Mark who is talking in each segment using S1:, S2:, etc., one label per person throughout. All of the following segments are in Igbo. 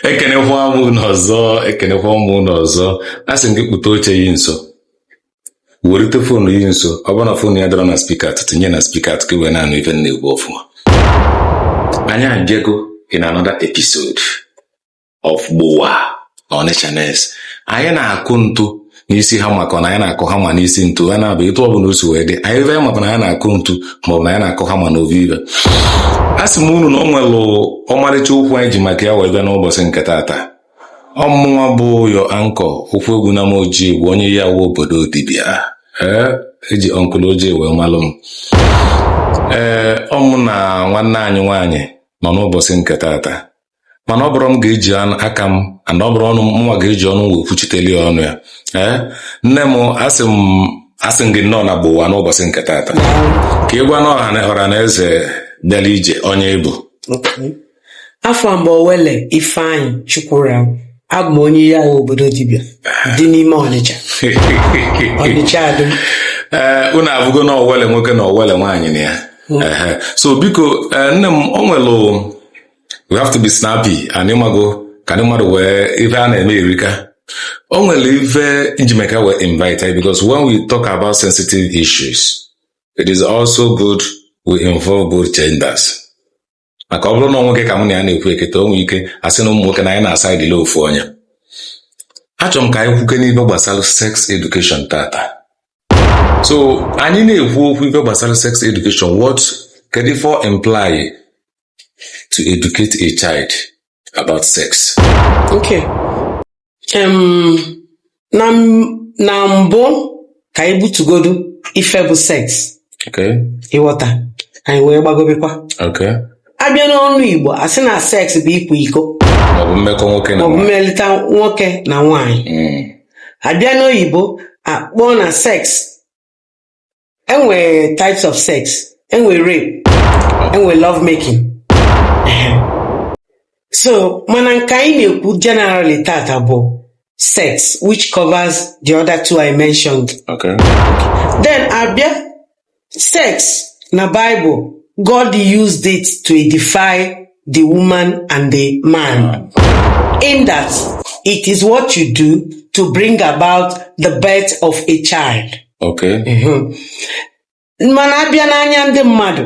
S1: ekenekwa m unu ọzọ ekenekwa m unu ọzọ a sị m gị kpụta oche yi nso werite foonu yi nso ọ bụrụ na foonu yi adịrọ na spika tinye na spika ka i wee na-anụ ife m na-ekwu ọfụma anyị abịago in another episode of Gbowa Onitshaness anyị na-akụ ntu n'isi hama ka na anyị na-akụ hama n'isi ntu ya na-abụ etu ọ bụla o si wee dị anyị ebe maka na anyị na-akụ ntu ma ọ bụ na anyị na-akụ hama na ovive a sị m unu na ọ nwelụ ọmarịcha okwu anyị ji maka ya wee bịa n'ụbọchị nke taata ọmụnwa bụ your anchor Okwuegbunam Ojii bụ onye Iyiawu obodo dibịa ee e ji Uncle Ojii wee malụ m ee ọmụ na nwanne anyị nwaanyị nọ n'ụbọchị nke taata mana ọ bụrọ m ga-eji aka m and ọ bụrọ ọnụ mụnwa ga-eji ọnụ wee kwuchiteli ya ọnụ ya ee nne m asị m gị nnọọ na gbowa n'ụbọchị nke taata ka ị gwanụ ọra na eze bịara ije onye ị
S2: bụ afa m bụ owele ifeanyị chukwura abụ m onye Iyiawu obodo dibịa dị n'ime ọnịcha ọnịcha ado ee unu
S1: afụgo na owele nwoke na owele nwaanyị na ya so biko nne m o nwelụ we have to be snappy and ịmago ka ndị mmadụ nwee ife a na-eme erika o nwere ife m ji maka ya wee invite yi because when we talk about sensitive issues it is also good we involve both genders maka ọ bụrụ na nwoke ka mụ na ya na-ekwu kịta o nwee ike a sị na ụmụ nwoke na anyị na-a-side-li ofu onye achọrọ m ka anyị kwukene ife gbasara sex education tata so anyị na-ekwu okwu ife gbasara sex education what kedu ife ọ imply to educate a child about sex.
S2: Okay. Um, na, na mbụ ka anyị butugodu ife bụ sex. Okay.
S1: Ịghọta.
S2: Anyị wee gbagobekwa. Okay.
S1: Abịa n'ọnụ
S2: Igbo, a sị na sex bụ ịkwa iko. Maọbụ mmekọ nwoke
S1: na nwaanyị. Maọbụ mmelịta
S2: nwoke na nwaanyị. Mm. Abịa n'oyibo, akpọọ na sex enwere types of sex enwere rape enwere love making so mana nke anyị na-ekwu generally tata bụ sex which covers the other two I mentioned okay. then abịa sex na Bible God used it to edify the woman and the man. In that it is what you do to bring about the birth of a child. Okay. Mhm. mana abịa n'anya ndị mmadụ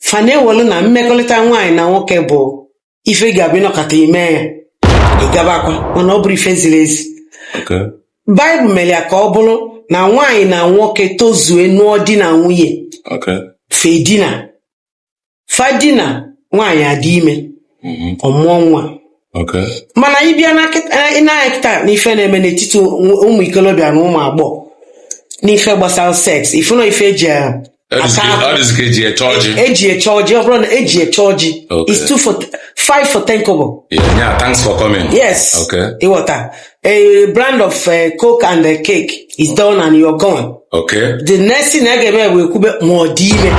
S2: fa na-ewelu na mmekọrịta nwaanyị na nwoke bụ ife ga-abụ ị nọkata i mee ya ị gabakwa mana ọ bụrọ ife ziri ezi Okay.
S1: baịbụl mere
S2: ya ka ọ bụrụ na nwaanyị na nwoke tozue nụọ di na nwunye Okay.
S1: fa edina
S2: fa dina nwaanyị adị ime mhm. ọ mụọ
S1: nwa mana ị
S2: bịa na kịta n'ife na-eme n'etiti ụmụ ikolobịa na ụmụ agbọghọ n'ife gbasara sex ị fụ na ọ ife eji eji eche ọjị eji eche ọjị ọ bụrụ na eji eche ọjị is two for five for ten kobo yeah thanks for coming
S1: yes
S2: ịghọta a brand of uh, coke and uh, cake is done and you're gone. Okay. The
S1: next thing
S2: a ga-eme e kwube ma ọ dị ime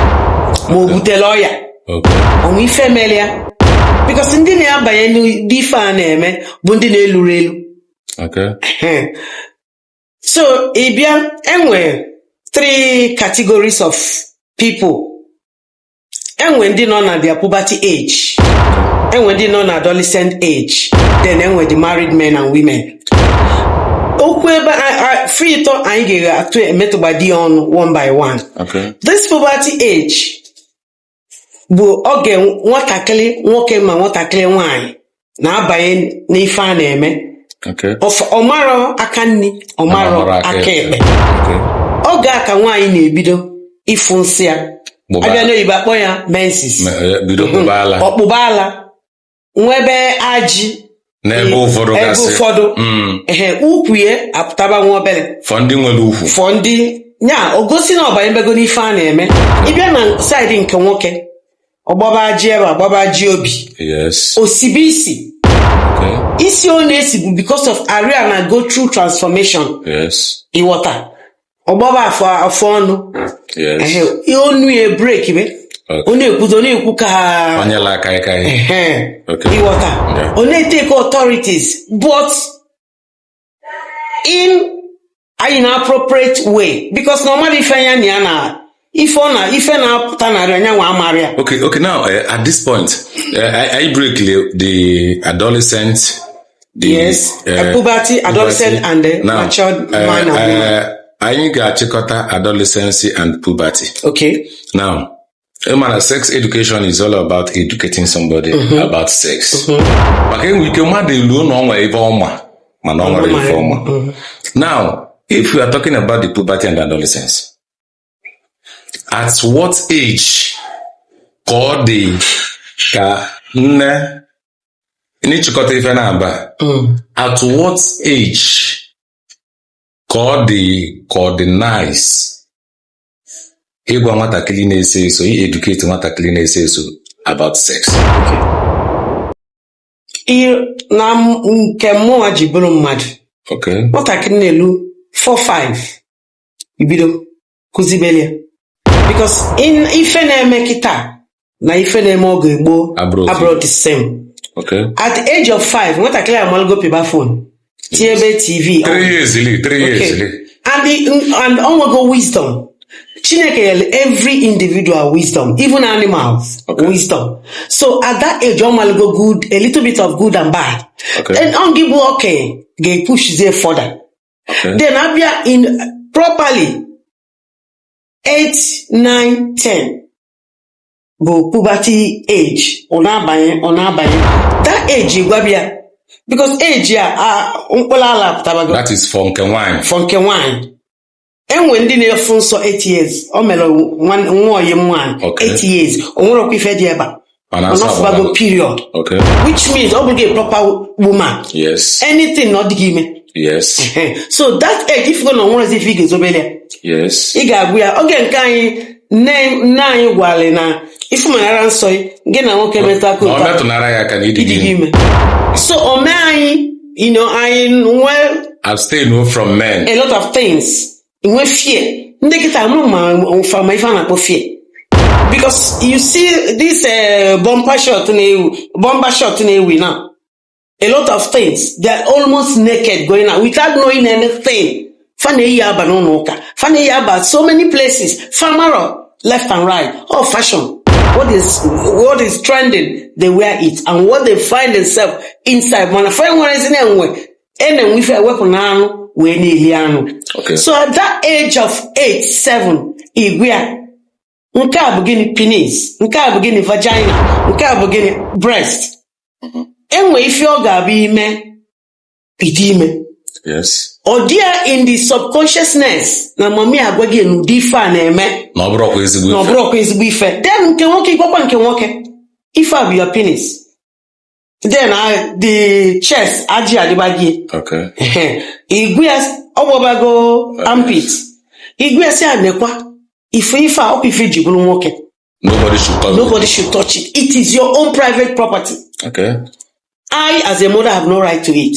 S2: ma o butelu ọya. Okay. O
S1: nwe ife mere
S2: ya. Because ndị na-abanye n'ụdị ife a na-eme bụ ndị na-eluro elu. Okay. so ị bịa enwere three categories of people enwe ndị nọ na their puberty age enwe ndị nọ na adolescent age then enwe the married men and women okwu ebe fa ịtọ anyị ga-eghe atụ emetụgbadi ya ọnụ one by one Okay.
S1: this puberty
S2: age bụ oge nwatakịrị nwoke ma nwatakịrị nwanyị na-abanye n'ife a
S1: na-eme ọ
S2: marọ aka nni ọ marọ aka ekpe oge a ka nwaanyị na-ebido ịfụ nsọ ya a bịa n'oyibo a kpọ ya menses eh, mhm. ọ kpụba ala nwebe ajị n'ebe
S1: ụfọdụ ebe ụfọdụ mm.
S2: ehe ukwu ya apụtaba nwa obere for ndị nwere ukwu
S1: for ndị nya
S2: o gosi na ọ banyebego n'ife a na-eme ị bịa na side nke nwoke ọ gbaba ajị ebe a gbaba ajị obi yes o
S1: sibe
S2: isi okay isi ọ na-esi bụ because of arụ ya na-go through transformation yes ịghọta ọ gbaba afọ afọ ọnụ yes
S1: ehe, ihe onu
S2: ya breakibe Okay. ọ na-ekwuzi ọ na-ekwu ka onye la aka aka
S1: ihe Ehe. Okay.
S2: ịghọta Yeah. ọ na-etake authorities but in an inappropriate way because normally ife nya na ya na ife ọ na ife na-apụta n'arụ nyanwa amarọ ya Okay, okay. Now, uh,
S1: at this point, uh, i, i breakili the adolescent. The,
S2: yes uh, puberty adolescent puberty. and the Now, matured uh, man and woman uh, anyị ga-achịkọta
S1: adolescency and puberty. okay Now, ị ma na sex education is all about educating somebody about sex maka enwe ike mmadụ eloo na o nwe ife ọ ma mana o nwerọ ife ọ ma now if we are talking about the puberty and adolescence at what age ka ọ dị ka nne n'ịchịkọta ife naabọ at what age ka ọ dị ka ọ dị nice ịgwa nwatakịrị na-eso eso ieducate nwatakịrị na-eso eso about
S2: sex ihe na m- nke mụnwa ji bụrụ mmadụ okay nwatakịrị na-elu 4-5 i bido kụzibeli ya because ife na-eme kịta na ife na-eme oge gboo Abụrọ otu. abụrọ the same Okay. at the age of five nwatakịrị amalụgo pịba phone tinyebe tv on. Three years li, three
S1: years Okay. li. and the-
S2: and ọ nwego wisdom chineke nyelu every individual wisdom even animals Okay. wisdom so at that age ọ malụgo good a little bit of good and bad Okay. and ọ ngị bụ okenye ga-epushzie further Okay. then abịa in properly 8 9 10 bụ puberty age ọ na-abanye ọ na-abanye that age gwaba ya because age a a- mkpụrụ ala
S1: pụtabago that is for nke nwaanyị for nke nwaanyị e
S2: nwee ndị na-afụ nsọ 8 years o mere nwa- nwa oyi m nwaanyị Okay. 8 years o nwerọkwa ife dị ebe a Mana ọ fụbago period okay which means ọ bụrụgo a proper woman yes anything
S1: na ọ dịgo ime
S2: yes
S1: so that
S2: age ị fụgo na o nwerọzi ife ị ga-ezobere ya yes ị ga-agwa
S1: ya oge nke
S2: anyị nne nne anyị gwara na ị fụ manara nsọ gị gị na nwoke metụkọ na ọ metụnara ya aka na ị dịgo ime so o mee anyị you know, anyị wee abstain o from
S1: men a lot of
S2: things nwee fear ndị kịta ama m ma fa ma ife a na-akpọ fear because you see this uh, bumper short na-ewu bumper short na-ewu now a lot of things they are almost naked going out without knowing anything fa na-eyi aba n'ụnọ ụka fa na-eyi aba so many places fa amarọ left and right all fashion what is what is trending they wear it and what they find themselves inside mana fa enwerọzi na e nwe a- na e nwe ife e wepụ n'anụ wee na-eli anụ Okay. so at that age of 8 7 ị gwa ya nke a bụ gịnị penis nke a bụ gịnị vagina nke a bụ gịnị breast mm-hmm. e nwe ife ọ ga-abụ i mee ị dị ime
S1: ọ dị ya
S2: in the subconsciousness na mami agwa gị na ụdị ife a na-eme na
S1: ọ bụrọkwa ezigbo ife then nke
S2: nwoke ị gwakwa nke nwoke ife a bụ your penis then I, the chest ajị adịba gị
S1: okay ị
S2: gwa ya ọ gbọbago armpit ị gwa ya sị ya nekwa ife ife a ọ kwa ife i ji bụlụ nwoke nobody should touch nobody should touch it it is your own private property okay
S1: I,
S2: as a mother, have no right to it.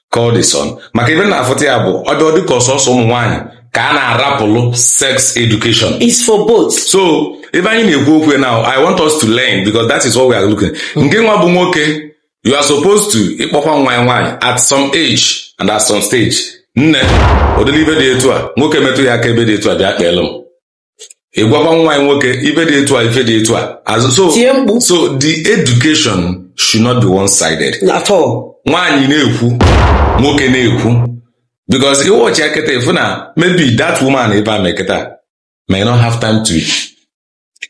S1: call the son maka ebe na-afụta ya bụ ọ dị ọ dị ka ọ sọsọ ụmụ nwaanyị ka a na-arapụlụ sex education It's for both.
S2: so ebe anyị
S1: na-ekwu okwu now i want us to learn because that is what we are looking ngị nwa bụ nwoke you are supposed to ịkpọkwa nwa yị nwaanyị at some age and at some stage nne ụdịrị ife dị etu a nwoke metụ ya aka ebe dị etu a bịa kpeelụ m ị gwakwa nwa anyị nwoke ife dị etu a ife dị etu a azụ so tie mkpu so the education should not be one sided at all
S2: nwaanyị na-ekwu nwoke na-ekwu
S1: because ị watch ya kịta ị fụ na maybe that woman ebe a mee kịta may not have time to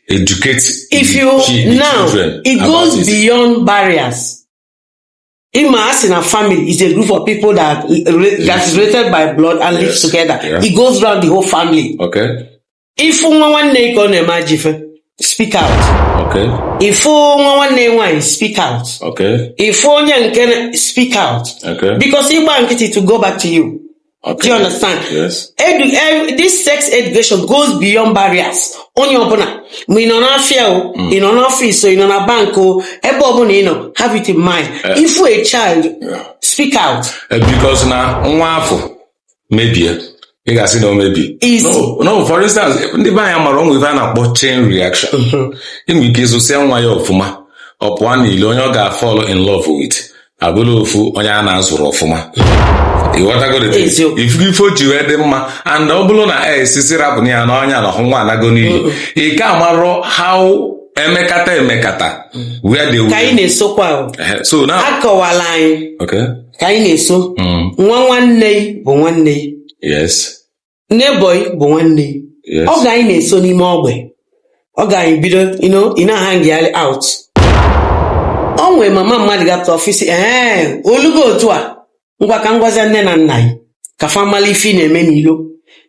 S1: educate if the you chi- the
S2: now children it about goes it. beyond barriers ị ma a sị na family is a group of people that, that is related by blood and live Yes. together Yeah. it goes round the whole family Okay.
S1: ị fụ nwa
S2: nwanne gị ka ọ na-eme ajọ ife speak out Okay. ị
S1: fụ nwa
S2: nwanne gị nwaanyị speak out Okay. ị
S1: fụ onye nke na-
S2: speak out Okay. because ị
S1: gba nkịtị
S2: to go back to you Okay. Do you understand? Yes. Edu,
S1: eh, this
S2: sex education goes beyond barriers. Onye ọbụla ma ị nọ n'afịa o, ị nọ n'ọfịs o, ị nọ na bank o, ebe ọbụla ị nọ, have it in mind. Ị fụ a child, speak out. Eh, Because
S1: na nwa afụ mebie ị ga-asị na o mebie Is- no, no for instance ndị be anyị amarọ o nwe ife a na-akpọ chain reaction e nwere ike ịzụsịa nwa ya ọfụma ọ pụọ n'ilo onye ọ ga-afall in love with abụlụ ofu onye a na-azụrọ ọfụma ị fụgo ife o ji wee dị mma and ọ bụrụ na esisi rapụ ya na ọ nya na ọhụ nwa anago n'iyi ị ka amarọ how emekata emekata where they ka anyị na-esokwa
S2: ahụ Eh,
S1: so now akọwala anyị
S2: okay ka anyị
S1: na-eso
S2: mm, nwa nwanne gị bụ nwanne gị yes neighbour gị bụ nwanne gị. Yes. oge anyị
S1: na-eso
S2: n'ime ogbe oge anyị bido you know, ị na-ahanggharị out o nwee mama mmadụ gata ọfịs ee o lugo otu a ngwa ka m gwazie nne na nna gị ka fa mara ife ị na-eme n'ilo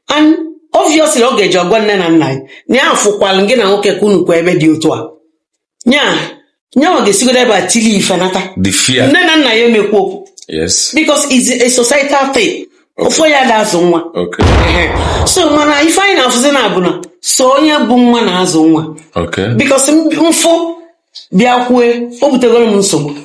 S2: and obviously ọ ga-eje ọ gwa nne na nna gị na ya fụkwalụ gị na nwoke ka unu kwụ ebe dị otu a nya nyanwa ga-esigodo ebe a tili ife nata before nne na
S1: nna ya emekwu
S2: okwu yes
S1: because it's
S2: a societal thing ofu onye ada azụ nwa okay
S1: Ehe. so mana
S2: ife anyị na-afụzi now bụ na sọ onye mụ nwa na-azụ nwa okay
S1: because m
S2: fụ bịa kwue o butegoro m nsogbu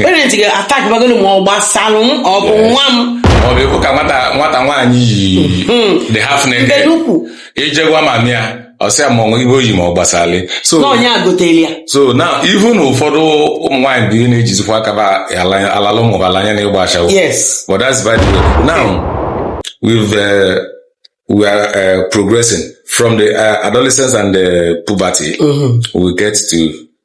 S2: parent ga-attack bagoro m ọ gbasalụ m ọ bụ nwa m ọ bụ ekwu ka nwata
S1: nwata nwaanyị yili half naked mbedo ukwu i je gwa mummy ya ọ sị ya ma ọ ihe o yi ma ọ gbasara so na ọ nya goteli
S2: ya so na
S1: even ụfọdụ ụmụ nwaanyị bụ ihe na-ejizikwa aka ba ala- alalụ ụmụ ba ala anya na ịgba ashawo yes but that's
S2: by the
S1: way now we've uh, we are uh, progressing from the uh, adolescence and the puberty Mhm. we get to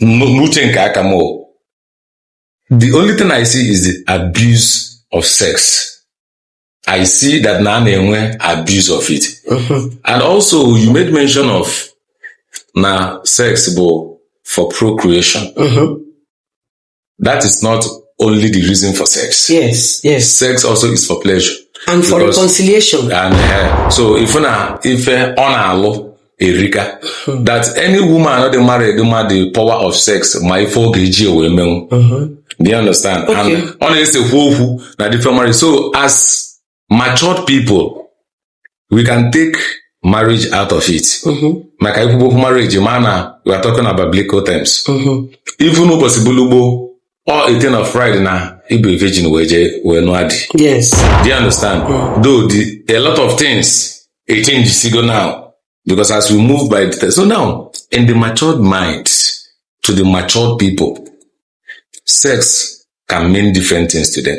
S1: n'uche nke aka m the only thing I see is the abuse of sex I see that na a na-enwe abuse of it mm-hmm. and also you made mention of na sex bụ for procreation mm-hmm. that is not only the reason for sex. Yes, yes. Sex
S2: also is
S1: for pleasure. And for because,
S2: reconciliation.
S1: And uh, so
S2: if
S1: na if uh,
S2: on alụ
S1: erika hmm. that any woman not married woman the power of sex ma ife ọ ga-eji ewe menwu. Do you understand? Okay. And ọ na-esekwu
S2: okwu
S1: na different marriage. So as matured people we can take marriage out of it mhm, maka ikwubo okwu marriage ma na we are talking about biblical terms mhm, even ụbọchị bulugbo ọ ete na friday na ịbụ virgin wee jee wee nụọ di yes do you
S2: understand
S1: though the, a lot of things a change sigo now because as we move by the so now in the matured mind to the matured people sex can mean different things to them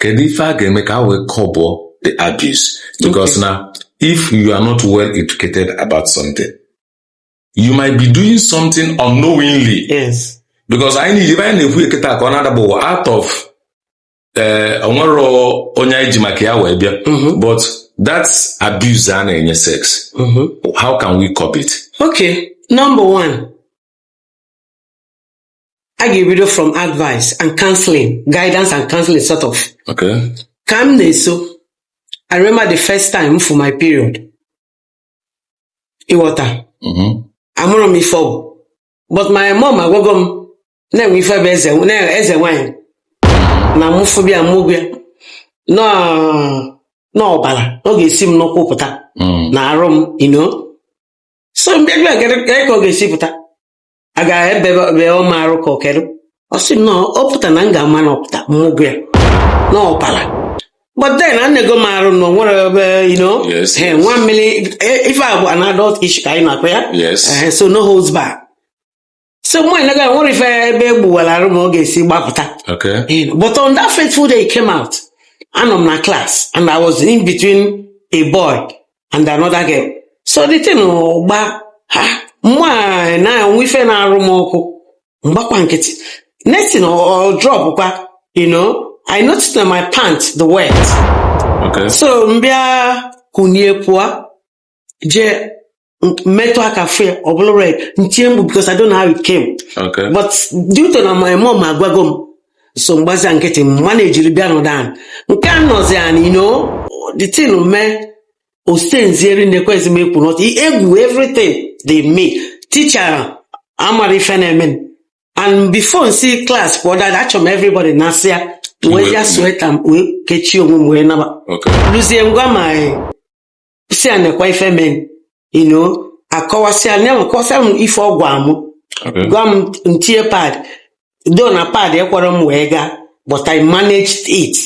S1: kedu ife a ga-eme ka a wee curb the abuse because na if you are not well educated about something you might be doing something unknowingly yes because
S2: anyị na-eji anyị na-ekwu
S1: kịta ka ọ na-adaba ụwa out of ee eh, o nwerọ onye anyị ji maka ya wee bịa mm-hmm. but that abuse a na-enye sex mm-hmm. how can we curb it okay number
S2: one a ga-ebido from advice and counseling guidance and counseling sort of Okay.
S1: ka m
S2: na-eso I remember the first time m fụ my period ị wọta Mhm. amarọ m ife ọ bụ but my mom agwago m na e nwe ife bụ ezi na ezi nwanyị na mụ fụ bịa mụ gwa ya na ọbala na ọ ga-esi m n'ụkwụ pụta Mm. na arụ m you know so m bịa gere ka ọ ga-esi pụta a ga-egbu m arụ ka ọ kedu ọ sị na ọ pụta na m ga-ama na ọpụta mmụgụ ya na ọbara but then enego m arụ na o nwere ebe you know Yes, eh, yes. nwa mmiri eh, ife a bụ an adult issue ka anyị na-akpa ya Yes. Eh, so
S1: no holds
S2: back so nwaanyị na a ga-enwe ife ebe e gbuwalụ arụ m ọ ga-esi gbapụta Okay. You know,
S1: but on that fateful
S2: day it came out, anọ m na class and I was in between a boy and another girl so the thing gbaa mụ a na-enwe ife na-arụ m ọkụ m gbakwa nkịtị next thing ọ drop kwa you know I noticed na my pant dị wet
S1: Okay. so m
S2: bịa kunie pụọ jee m- metụ aka fụ ya ọ bụlụ red m tie mkpu because I don't know how it came Okay. but
S1: due to
S2: na my mom agwago m so m gbazia nkịtị manage-iri bịa nọdụ anị m ka anọzi anị you know the thing mee o stain-zieri na-ekwezi m ekuni ọtọ egwu everything dey me teacher amara ife na-eme m. and before m si class pụọ dada achọ m everybody nasịa wee ji sweater m wee kechie onwe m wee naba Okay. luzie m
S1: gwa ma
S2: sị ya nekwa ife mee you know akọwasịa ya kọwasịa m ife ọ gwa m Okay. gwa m
S1: m
S2: tinye pad though na pad ekwerọ m wee gaa but i managed it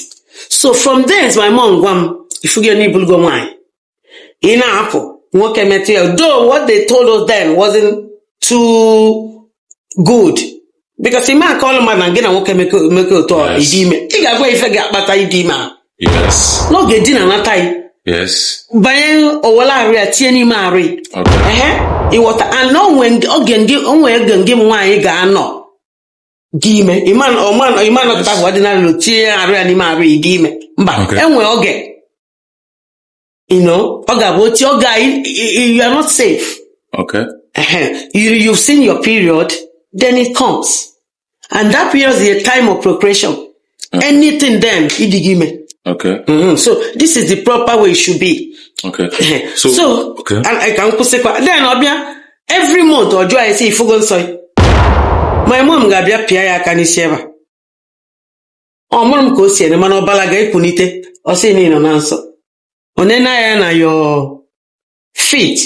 S2: so from there my mom gwa m ị fụgo na ị bụlụgo nwaanyị ị na-apụ nwoke metụ ya though what they told us then wasn't too good because ị ma-akọlụ mmadụ na gị na nwoke mekọta Yes. ị dị ime ị ga-agwa ya ife ga-akpata ịdị ime ahụ
S1: Yes. na ọ ga-edina nata
S2: ya Yes. banye
S1: o
S2: welụ arụ ya tinye n'ime arụ ya Okay. ehe
S1: ị wọta and
S2: o nwe ndị- oge ndị o nwe oge ndị m nwaanyị ga-anọ dị ime ịma ọma- ịma nọkọta bụ ordinary tinye arụ ya n'ime arụ ya dị ime mba Okay. e nwe oge you know ọ ga-abụ otu oge you are not safe
S1: okay
S2: you, you've seen your period then it comes and that period is a time of procreation okay. anything then ị dịgo ime okay mm-hmm.
S1: so this is
S2: the proper way it should be okay
S1: so, so okay.
S2: and I can kwụsịkwa then ọ bịa every month ọ jụọ anyị sị ị fụgo nsọ my mom ga-abịa pịa ya aka n'isi ebe a ọ mụrụ m ka o si ene mana ọbala ga-ekunite ọ sị na ị nọ na nsọ o nene anya na your feet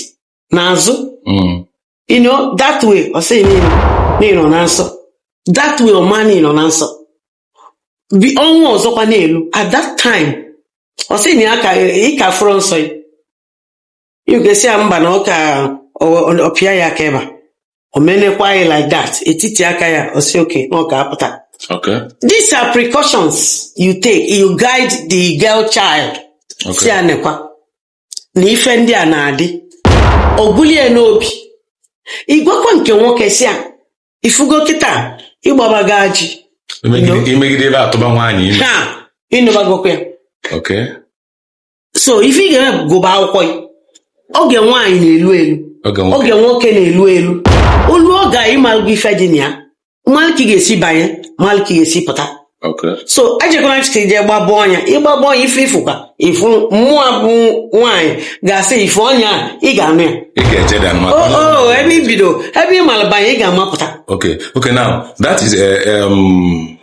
S2: n'azụ Mm. you know that way ọ sị na ị nọ na ị nọ na nsọ that way ọ ma na ị nọ na nsọ bi ọnwa ọzọkwa na-elu at that time ọ sị na ya ka ị ka afụrọ nsọ gị You can say mba na ọ ka ọ pịa ya aka ebe a. O menekwa gị like that. Etiti aka ya ọ sị okay na ọ ka apụta. Okay. These
S1: are precautions
S2: you take. You guide the girl child. Sị Okay. ya nekwa na ife ndị a na-adị. O bulu ya n'obi. Ị gwakwa nke nwoke sị ya ị fụgo kịta ị gbabago ajị. I megide i
S1: megide ị bịa tụba nwaanyị ime. Ha ị nụbagokwa ya.
S2: Okay. so ife ị ga-eme bụ gụba akwụkwọ gị oge nwaanyị na-elu elu Oge nwoke. oge nwoke na-elu elu o luo oge a ị malụgo ife dị na ya malụ ka ị ga-esi banye malụ ka ị ga-esi pụta Okay. so
S1: ejekwana
S2: kịta je gbaba ọnya ị gbaba ọnya ife ị fụkwa ị fụ mụwa bụ nwaanyị ga-asị ị fụ onye a ị ga-anụ ya Ị ga-eje dan o maka
S1: o ebe i
S2: bido ebe ị malụ banye ị ga-ama apụta Okay. Okay. Now
S1: that is uh, um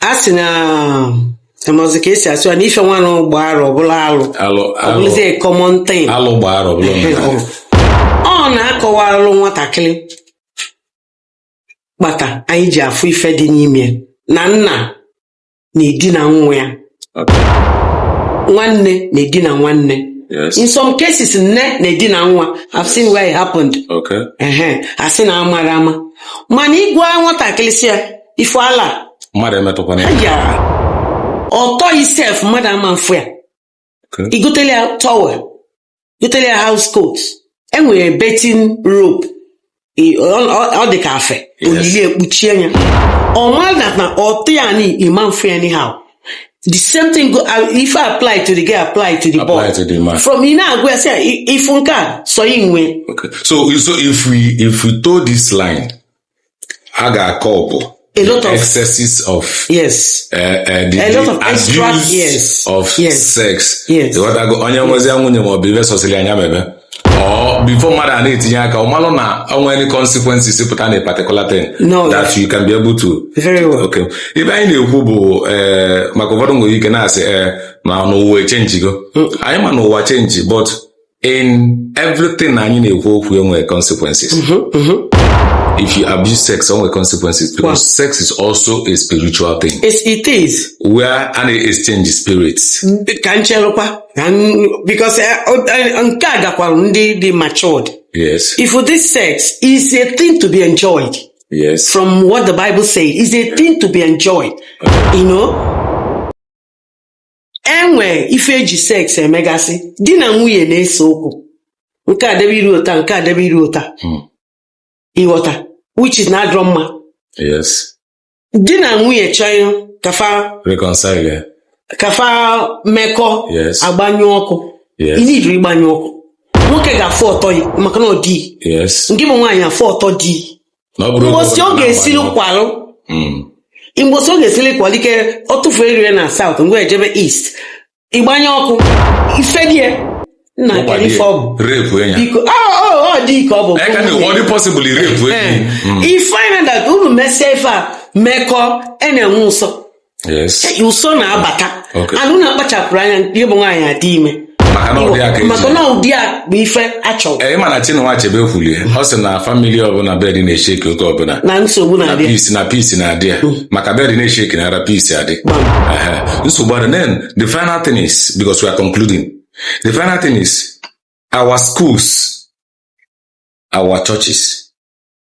S1: a
S2: sị na amazi ka esi asụ ya na ife nwa alụ gbaa arọ ọ bụlụ alụ alụ alụ ọ bụlụzie common thing alụ gbaa arọ ọ bụlụ omenala. ọ na-akọwalụ nwatakịrị kpata anyị ji afụ ife dị n'ime ya. na nna na-edina nwa ya Okay. nwanne na-edina nwanne Yes. in
S1: some cases nne
S2: na-edina nwa I've seen where it happened Okay. ehe
S1: asị na
S2: amara ama mana ị gwa nwatakịrị sị ya ị fụ ala mmadụ
S1: emetụkwana ya
S2: ya ọtọ gị sef mmadụ ama mfụ ya Okay. i
S1: gotelụ ya towel
S2: gotelụ ya house coat e nwere bathing robe I- ọ- ọ ọ dị ka afe o yili ekpuchie ya ọ ma na na ọtọ ya na ị ma mfụ ya anyhow the same thing go uh, if I apply to the girl apply to the Apply boy to the man. from ị
S1: na-agwa ya sị ya
S2: "I- ị fụ nke a sọ gị nwe Okay. So so
S1: if we if we toe this line, a ga-akọ ọbụ A lot the of- excesses of yes uh, uh, the,
S2: A lot the
S1: of extra-
S2: abuse yes, of
S1: yes, sex yes. ịghọtago
S2: onye
S1: nwezia nwunye ma ọ bụ ife sọsịrị ya nya mebe or before mmadụ a na-etinye aka ọ malụ na o nwere any consequences pụta na a particular thing No. that you can be able to Very well.
S2: okay. ife anyị na-ekwu
S1: bụ eh, maka ụfọdụ nwere ike na-asị eh, ma n'ụwa echangego anyị ma na ụwa change but in everything anyị na-ekwu okwu enwere consequences mhm, mhm. if you abuse sex enwere consequences because sex is also a spiritual thing yes, it is
S2: where a na-exchange
S1: spirits ka nchelụkwa
S2: because eh, eh, nke a gakwara ndị dị matured yes if this
S1: sex
S2: is a thing to be enjoyed yes from
S1: what the bible
S2: says is a thing to be enjoyed you know e nwee ife e ji sex emegasị di na nwunye na-ese okwu nke a debe iru ụta nke a debe iru ụta Hmm. ịghọta which is na adịrọ mma yes
S1: di na
S2: nwunye chọọ ka fa reconcile
S1: ya ka
S2: fa mekọọ yes
S1: agbanyụ
S2: ọkụ yes ị needịrọ ịgbanyụ
S1: ọkụ
S2: nwoke ga-afụ ọtọ gị maka na ọ di gị yes ngị bụ nwaanyị
S1: afụ ọtọ
S2: di Na ọ bụrụ oge mbọsị ọ ọbụla ga-esiri na-agbanye ọkụ. kwalụ Mm. mbọsị ọ ga-esiri kwalụ ike ọ tụfuo eriri na south ngwa ejebe east ịgbanye ọkụ ife die nna Ụgwa kedu dị ife ọ bụ rape ya.
S1: biko ọ ọ
S2: ọ dị ike ọ bụ Eka na ọ dị
S1: possible rape ya. Mm. you find
S2: that unu mesịa ife a mekọ a na-enwe ụsọ
S1: ụsọ
S2: na-abata anụ
S1: na-akpachapụrụ
S2: anya nke bụ nwaanyị adị ime maka na ụdị a ka maka na ụdị a bụ ife achọrọ ị ma na Chinua Achebe
S1: kwulie ọ sị na family ọbụla bed na-eshake oge ọbụla na nsogbu na na-adị peace
S2: na peace na-adị
S1: ya maka bed na-eshake na ara peace adị Ehe. nsogbu adị then the final thing is because we are concluding the final thing is our schools our churches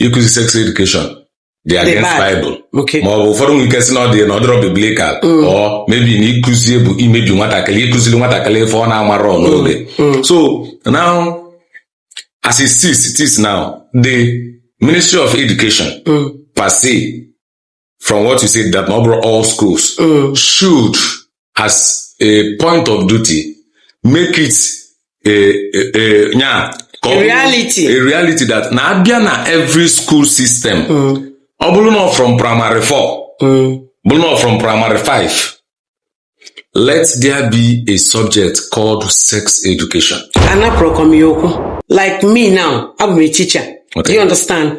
S1: ịkụzi sex education dị against bad. Bible Okay. ma ọ bụ ụfọdụ
S2: nwere ike sị na
S1: ọ dị na ọ dịrọ biblical or maybe na ịkụzi bụ imebi nwatakịrị ịkụziri nwatakịrị ife ọ na-amarọ n'oge so now as it is it is now the ministry of education Mm. per se from what you said that not all schools uh, should, as a point of duty, make it a, a, a, yeah, a reality. A reality that na abịa na every school system. Mm. Ọ bụrụ na from primary four, mm. bụrụ na from primary five, let there be a subject called sex education. Anapụrụkwa m ya okwu.
S2: Like me now, abụ m a teacher. Okay. Do you understand?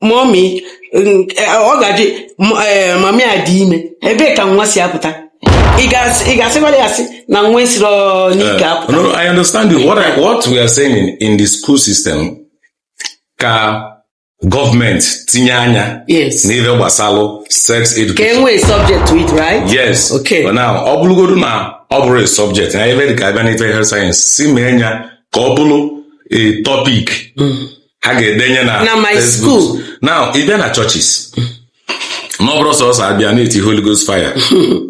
S2: mummy ọ ga-adị m- eh, mummy adị ime ebee ka nwa si apụta ị ga- ị ga-asịkwara ya sị na nwa
S1: esiro n'ike Uh, apụta no, no, I understand you. What I, what we are saying in, in the school system ka government tinye anya yes
S2: n'ife
S1: gbasalụ sex education. ka e nwee subject to
S2: it right Yes. Okay. But
S1: now,
S2: ọ bụlụgodu
S1: na ọ bụrọ a subject, na ebe dị ka a bịa n'ife health science, si mee nya ka ọ bụlụ a topic ha
S2: ga-edenye na na my school now ị bịa
S1: na churches na ọ bụrọ sọsọ abịa na-eti holy ghost fire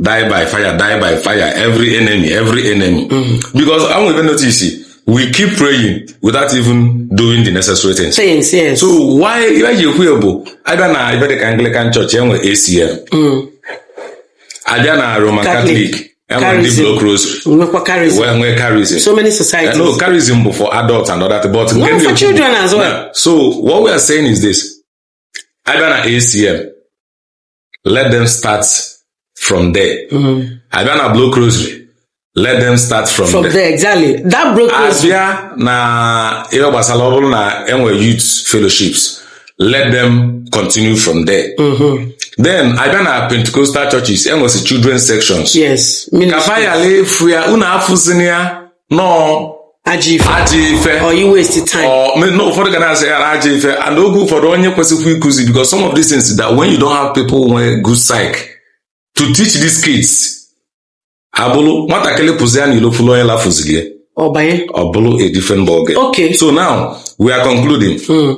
S1: die by fire die by fire every enemy every enemy because enwe ife m notice we keep praying without even doing the necessary things things yes so
S2: why
S1: ihe ji ekwu ya bụ abịa na ife dịka anglican church enwe acm abịa na roman Catholic. catholic Charism. block rosary nwekwa charism wee nwee charism so many societies
S2: no charism bụ
S1: for adults and other things, but nke no ndị for okwu- children as well
S2: Yeah. so what we are
S1: saying is this abịa na acm let them start from there Mhm. abịa na block rosary let them start from, from there there exactly that block
S2: rosary abịa na ihe gbasara ọ bụrụ
S1: na enwe youth fellowships let them continue from there Mhm. then abịa na pentecostal churches enwesị children sections yes ka ministry
S2: bayala efu ya unu afụzina ya
S1: na ọ ajọ ife ajọ ife or you
S2: waste time Ọ, me- na ụfọdụ
S1: ga na-asị ya na ajọ ife and oge ụfọdụ onye kwesịkwa ịkụzi because some of these things that when you don't have people nwee good psych to teach these kids ọ bụrụ nwatakịrị pụzia na ilo fụlụ onye lafuziri ya ọbanye ọ bụrụ a different ball game okay so
S2: now
S1: we are concluding Mm.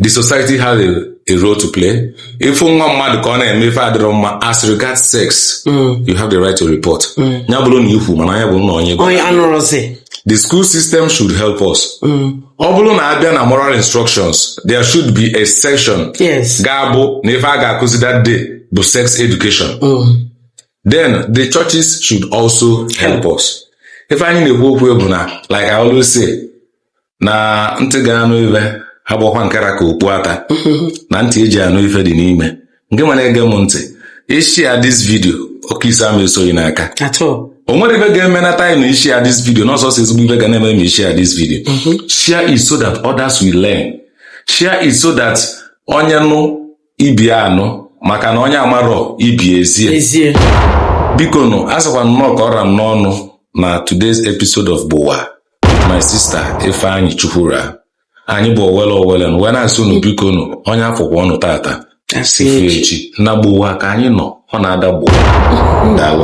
S1: the society has a, a role to play ịfụ nwa mmadụ ka ọ na-eme ife adịrọ mma as regards sex Mm. you have the right to report Mm. ya bụrụ na ikwu mana ya bụrụ na onye gwa onye anụrụzi the school system should help us Mm. ọ bụrụ na abịa na moral instructions there should be a section yes ga-abụ
S2: na ife a
S1: ga-akụzi that day bụ sex education Mm. then the churches should also help us ife anyị na-ekwu okwu bụ na like I always say na ntị ga-anụ ife abụkwa nke ra ka okpu ata na ntị eji anụ ife dị n'ime ngịnwa na-ege m ntị ị share this video oke isi ama esoghị n'aka o nwere
S2: ife
S1: ga-eme na time na ị share this video na ọ sọsọ ezigbo ife ga na-eme ma ị share this video mhm. share it so that others will learn share it so that onye nụ ibe anụ maka na onye amarọ ibe ezie ezie biko nụ asịkwa na ọ ka ọ ra m n'ọnụ na today's episode of Gbowa with my sister Ifeanyi Chukwura anyị bụ owele owele nụ wee na-asị unu biko nụ onye afọkwa ọnụ tata asị ife echi echi na Gbowa ka anyị nọ ọ na-ada Gbowa daalụ